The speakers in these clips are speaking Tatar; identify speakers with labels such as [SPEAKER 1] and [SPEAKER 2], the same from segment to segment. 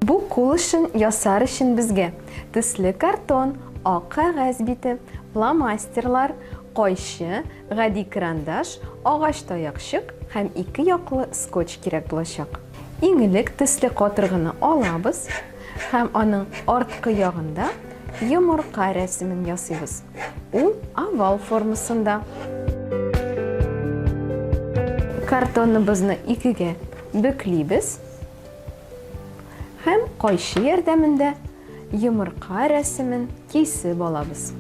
[SPEAKER 1] Бу кул эшен ясар өчен безгә төсле картон, ак кәгазь бите, фломастерлар, кайчы, гади карандаш, агач таякчык һәм ике яклы скотч кирәк булачак. Иң элек төсле катыргыны алабыз һәм аның арткы ягында Йомырка рәсемен ясыйбыз. Ул овал формасында. Картоныбызны икегә бөклибез һәм кайчы ярдәмендә йомырка рәсемен кисеп алабыз.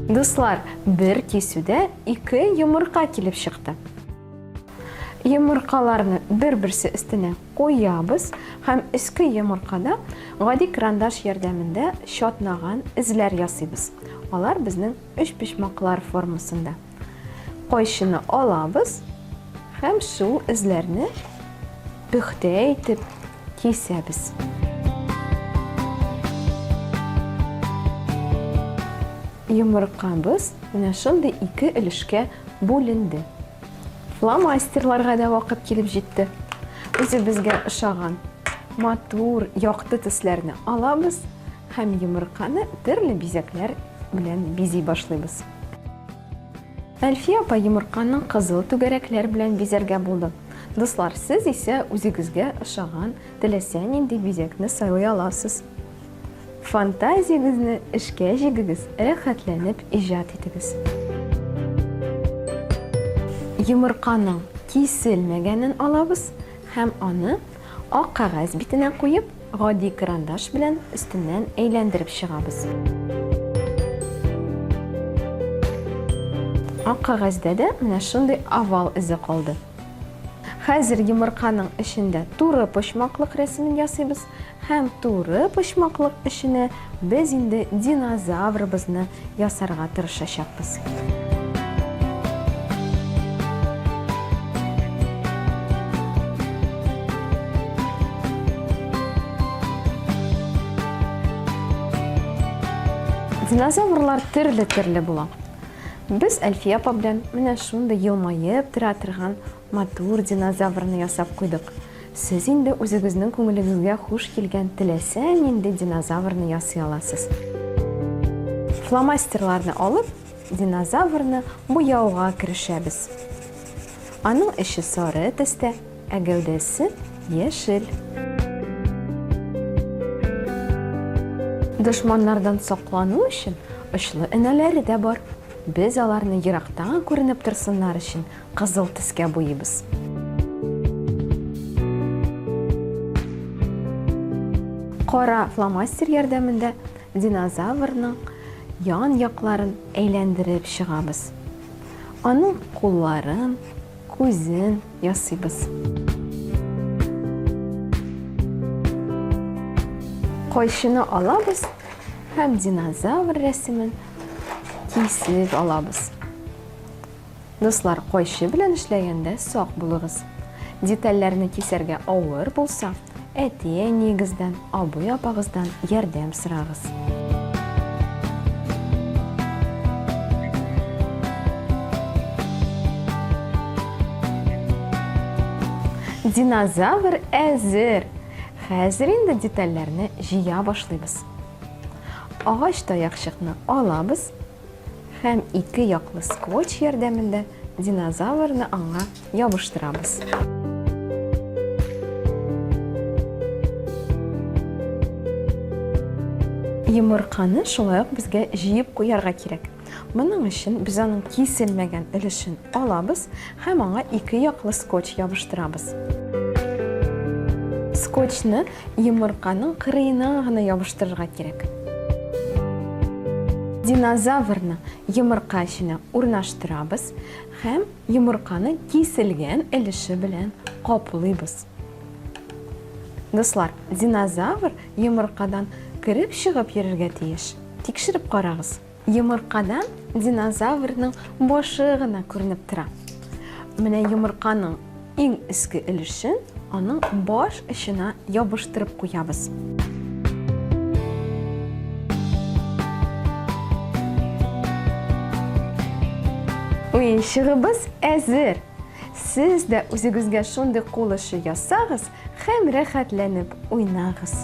[SPEAKER 1] Дуслар, бер кисүдә ике йомырка килеп чыкты. Йомыркаларны бер-берсе өстенә куябыз һәм өске йомыркада гади крандаш ярдәмендә чатнаган эзләр ясыйбыз. Алар безнең өч почмаклар формасында. Кайшыны алабыз һәм шул эзләрне пөхтә итеп кисәбез. Йомыркабыз менә шундый ике өлешкә бүленде. Фломастерларга да вакыт килеп җитте. Үзебезгә ошаган матур, якты төсләрне алабыз һәм йомырканы төрле бизәкләр белән бизи башлыйбыз. Әлфия апа йомырканың кызыл түгәрәкләр белән бизәргә булды. Дуслар, сез исә үзегезгә ошаган теләсә нинди бизәкне сайлый аласыз. Фантазиягезне эшкә җигегез, рәхәтләнеп иҗат итегез. Йомырканың киселмәгәнен алабыз һәм аны ак кәгазь битенә куеп, гади карандаш белән өстеннән әйләндереп чыгабыз. Ак кәгазьдә дә менә шундый овал эзе калды. Хәзер йомырканың эчендә туры почмаклык рәсемен ясыйбыз. Һәм туры почмаклык эченә без инде динозаврыбызны ясарга тырышачакбыз. Динозаврлар төрле-төрле була. Без Әлфия апа белән менә шундый елмаеп тора торган Матур динозаврны ясап куйдык. Сез инде үзегезнең күңелегезгә хуш килгән теләсә нинди динозаврны ясый аласыз. Фломастерларны алып, динозаврны буяуга керешәбез. Аның эче сары төстә, ә гәүдәсе яшел. Дошманнардан саклану өчен очлы энәләре дә бар. Без аларны ерактан күренеп торсыннар өчен Кызыл төскә буйыйбыз. Кара фломастер ярдәмендә динозаврның ян якларын әйләндереп чыгабыз. Аның кулларын, күзен ясыйбыз. Кайшыны алабыз һәм динозавр рәсемен кисеп алабыз. Дуслар, кайчы белән эшләгәндә сак булыгыз. Детальләрне кисәргә авыр булса, әти-әниегездән, абый-апагыздан ярдәм сорагыз. Динозавр әзер! Хәзер инде детальләрне җыя башлыйбыз. Агач таякчыкны алабыз Һәм ике яклы скотч ярдәмендә динозаврны аңа ябыштырабыз. Йомырканы шулай ук безгә җыеп куярга кирәк. Моның өчен без аның киселмәгән өлешен алабыз Һәм аңа ике яклы скотч ябыштырабыз. Скотчны йомырканың кырыена гына ябыштырырга кирәк. Динозаврны йомырка эченә урнаштырабыз һәм йомырканы киселгән өлеше белән каплыйбыз. Дуслар, динозавр йомыркадан кереп-чыгып йөрергә тиеш. Тикшереп карагыз. Йомыркадан динозаврның башы гына күренеп тора. Менә йомырканың иң өске өлешен аның баш очына ябыштырып куябыз. Уенчыгыбыз әзер. Сез дә үзегезгә шундый кул эше ясагыз һәм рәхәтләнеп уйнагыз.